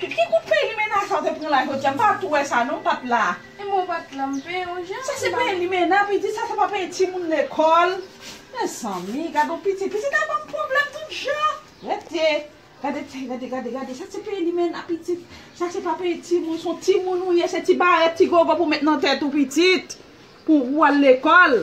Ki kout pey limena sa ou te pran la jodia m pa tou wè sa non m pat la. Ebyen ou pat la m peye yon jan. Sa se peye limena pitit sa se pa peye timoun lekòl mezanmi gadon pitit pitit la banm pwoblèm tout jan rete gade ti gade gade gade sa se peye limena pitit sa se pa peye timoun son timoun ou ye se ti barèt ti gogo pou met nan tèt ou pitit pou ou al lekòl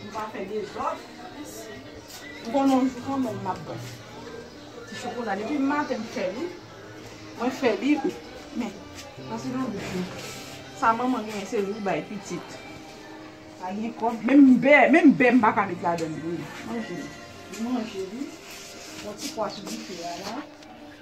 Nou pa fè dezòd. M konnen yon jou kanmenm m ap bon. Ti chokola depi maten m fè li. Mwen fè li. Men, pase nan bouch mwen. Sa manman genyen se li ou bay pitit. Pa gen kòb. Menm bè, menm bè m pa ka met ladan li. Manje li. Manje li. Yon ti pwa sou dife a la.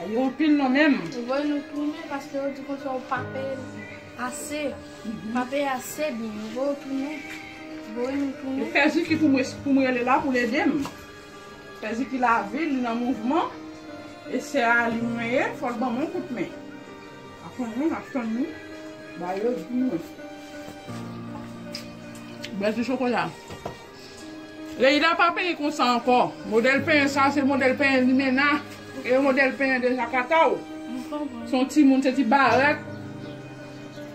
Ah yo anpil non menm. Ou voye nou tounen paske yo di konsa ou pa peye ase ou pa peye ase byen yo voye ou tounen voye nou tounen. Fè Ziki pou mwen pou m rele la pou l ede m fè Ziki lavi li nan mouvman e sè a li mwen ye fò l ban mwen yon kout men aprann mwen ap tann li ba yo di mwen. Bèl ti chokola. Leïla pa penyen konsa ankò. Modèl penyen sa se modèl penyen limena e modèl penyen de jakata w. Se yon timoun se ti barèt,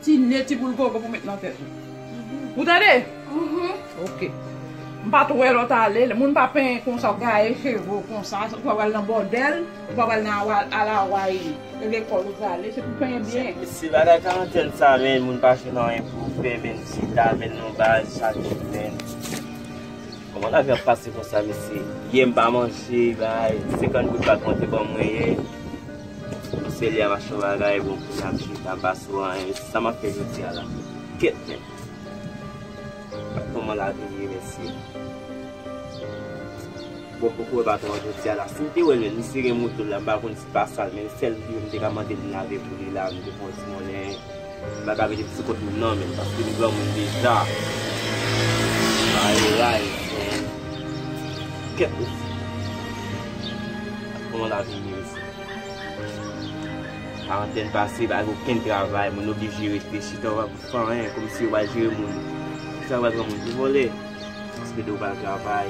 ti ne, ti boul gogo pou met nan tèt ou. Ou tande? Ok. M pa t wè lè w t ale. Moun pa penyen konsa gaye cheve w konsa. Ou pa pral nan bòdèl. Ou pa pral nan al Hawaï. Se lekòl ou prale, se pou penyen byen. Se bagay karantèn sa menn moun pa jwenn anyen pou fè menn si ta menn nou baz chak jou menn. Kòman lavi ap pase konsa mesye. Yè m pa manje bay 50 goud pat monte ban mwen yè. Mesye li a mach yon bagay bon kounya m chita m pa sou anyen mesye sa map fè jodi a la. Kèt menn. Kòman lavi ye mesye. Bon poko wè baton an jodia la sim te wèl menm li sere motol la m pa konn si pa sal menm sèl dlo m te ka mandel lave pou li la m te konn di monnen m pa ka mete ti kot moun nan menm paske m granmoun deja bare ray men kèt osi koman lavi ye mesi karantèn pase pa gen okenn travay moun oblije rete chita yo pa pou fè anyen kòmsi yo pa jere moun kisa yo pral pran moun pou vòlè paske de yo pral travay.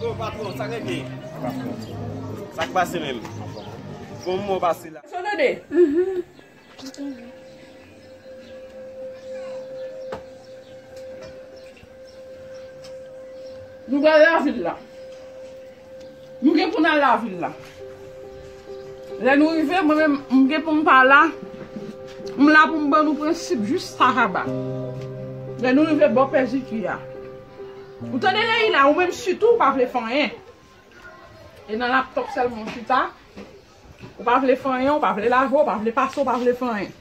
Bon patron sak rete? Sak pase menm? Bon moman ou pase la? Son dede! Nou pral lavil la. Nou gen pou n al lavil la. Lè nou rive, mwen menm, m gen pou m pa la. M la pou m ban nou prensip jis sa kaba. Lè nou rive bò pè Ziki a. Ou tande Leyila, ou menm sitou ou pa vle fè anyen. E nan laptòp sèlman ou chita. Ou pa vle fanyen, ou pa vle lave, ou pa vle pase, ou pa vle fè anyen.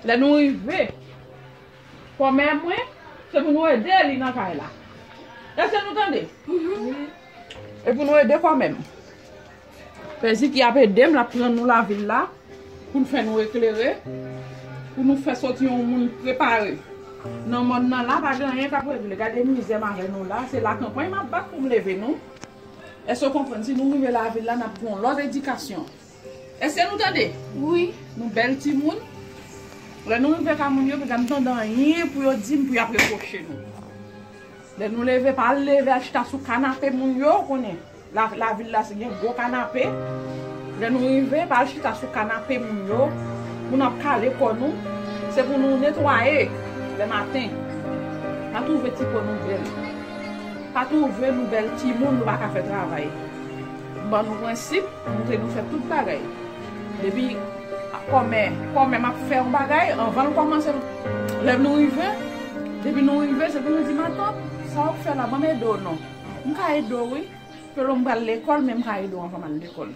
Lè nou rive, kòmè mwen, se pou nou ede li nan kay la. Èske nou tande? Se pou nou ede kòmè m. Pè Ziki ap ede m, l ap pran nou lavil la pou l fè nou eklere, pou nou fè soti yon moun prepare. Nan mòn nan la, pa gen anyen k ap regle. Gade mizè m avè nou la, se lakanpay m ap bat pou m leve nou. Eske w konprann si nou rive lavil la nap gen yon lot edikasyon eske nou tande wi nou bel timoun lè nou rive ka moun yo paka m tande anyen pou yo dim pou yap reproche nou lè nou leve pa al leve al chita sou kanape moun yo ou konnen lavil la se gen gwo kanape lè nou rive pa al chita sou kanape moun yo pou nap kale kò nou se pou nou netwaye lè maten pa twouve ti po nou bel. Pa touve nou bèl timoun nou pa ka fè travay ban nou prensip moute nou fè tout bagay depi kòmè kòmè map fè yon bagay anvanl kòmanse lè nou rive depi nou rive se pou nou di matant sa wap fè la banm ede w non m ka ede w wi pelo m pral lekòl men m ka ede w anvan mal lekòl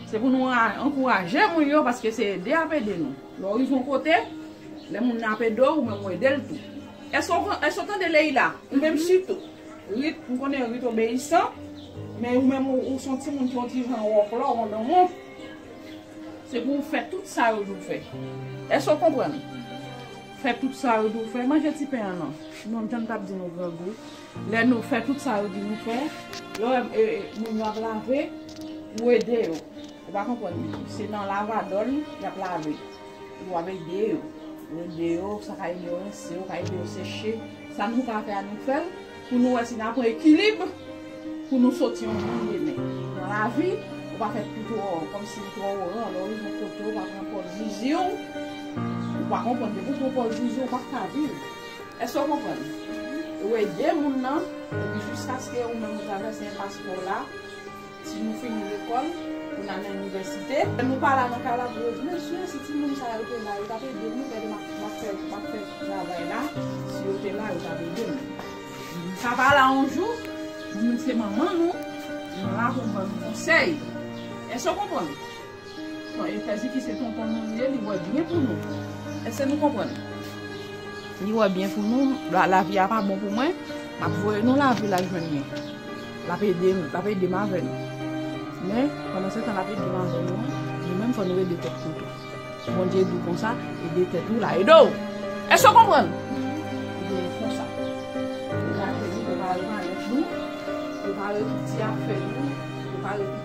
se pou nou ankouraje moun yo paske se ede yap ede nou lè w rive yon kote lè moun nan ap ede w ou menm ou edel tou. Eske w tande Leïla? Ou menm sitou. Rit, m konnen Rit obeyisan, men ou menm ou son timoun ki on ti jan wòklò, wondonwon. Se pou ou fè tout sa yo di w fè. Eske w konprann? Fè tout sa yo di w fè. Manje ti pen an non. Non, m tann t ap di nou grangou. Lè nou fè tout sa yo di nou fè, lè w wè moun yo ap lave, ou ede yo. Ou pa konprann se nan lavadol yap lave epi wap ede yo ou ede yo sa ka ede yo rense yo ka ede yo seche sa nou ka fè a nou fèl pou nou wè si nan pran ekilib pou nou soti yon moun demen nan lavi ou pa fè pi twò kòmsi ou twò oran lè ou rive yon kote ou pa pran pòz ziziw ou pa konprann depi ou pran pòz ziziw ou pap ka viv èske ou konprann ou ede moun nan epi jiskaske ou menm ou travèse enpas paw la. Si nou fini lekòl, pou n ale inivèsite. Lè nou pa la nan kay la pou revni. Mesye, si ti moun sa yo te la, yo t ap ede nou. Gade, m ap fè travay la. Si yo te la, yo t ap ede nou. Nou ka pa la yon jou. Moun se manman nou. Nou la pou nou ban nou konsèy. Èske w konprann? Bon e pè Jiki se tonton nou li ye li wè byen pou nou eske nou konprann li wè byen pou nou lavi a pa bon pou mwen map voye nou lavil al jwenn mwen lap edem lap edem avèl men pandan se tan lap edem avèl nou nou menm fò nou ede tèt nou tou Bondye di konsa ede tèt ou la ede'w eske konprann ebyen li konsa li lage li prepare malèt nou prepare tout ti afè nou prepare tout.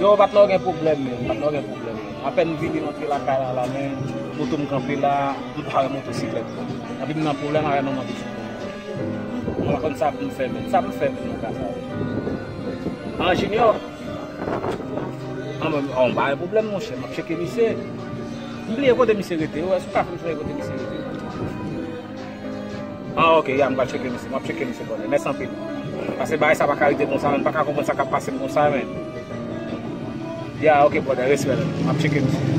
Yo patnè ou gen pwoblèm menm, patnè ou gen pwoblèm menm. Apèn m vini rantre lakay la la men moto m kanpe la, m pa wè motosiklèt mwen. Epi m nan pwoblèm avè manman pitit mwen an. Mwen pa konn sa pou m fè menm. Sa pou m fè menm nan ka sa yo? An Jinyò? Anmwey m pa wè pwoblèm monchè, m ap tcheke misye. M bliye kote misye rete, ou wè si w ka fè m sonje kote misye rete? Ah ok ya m pral cheke misye map cheke misye bonè mèsi anpil paske bagay sa paka rete konsa menm paka konprann sa kap pasem konsa menm ya ok brother respè man map cheke misye.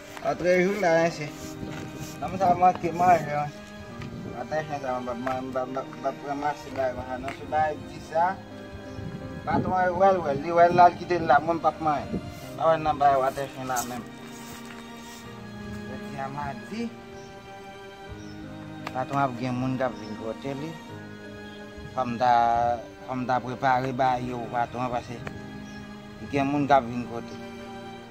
Antre jou la mesye. Nonm sa manke manje wi. Ata chen sa mwen pap ranmase bagay konsa non. Se bagay di sa. Patron an wè l wè l. Li wè l la li kite l la. Mwen pap manje. Pa wè nan bagay watè chen la menm. Jodi a madi. Patron ap gen moun kap vin pote li. Fòm ta fòm ta prepare bagay yo pou patron pase gen moun kap vin pote.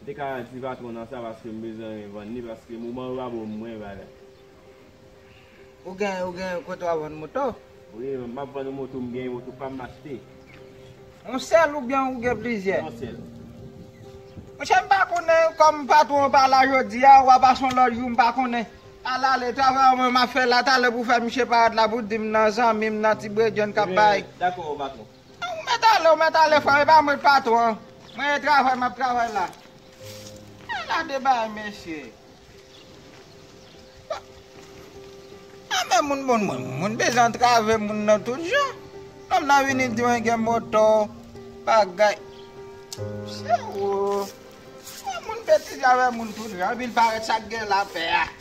M te ka di patron nan sa paske m bezwen vann li paske moman yo pa bon pou mwen bagay. Ou gen ou gen kote wap vann moto? Wi map vann yon moto m gen yon moto pam m achte. Yon sèl oubyen ou gen plizyè? Yon sèl. Monchè m pa konnen kòm patron an pa la jodi a ou a pase yon lòt jou m pa konnen. Al ale travay ou menm map fè la talè pou fè misye parèt la pou di m nan zanmi m nan ti bredjenn kap bay. Dakò patron. Ou mèt ale ou mèt ale frèm epa mwen k patron an mwen e travay map travay la ala de bagay mesye bon anmè moun bon mwen moun bezwen antrave moun nan tout jan nonm nan vini di mwen gen moto bagay mesye oo fò moun betize avè moun tout jan epi l parèt sak gen lapè a.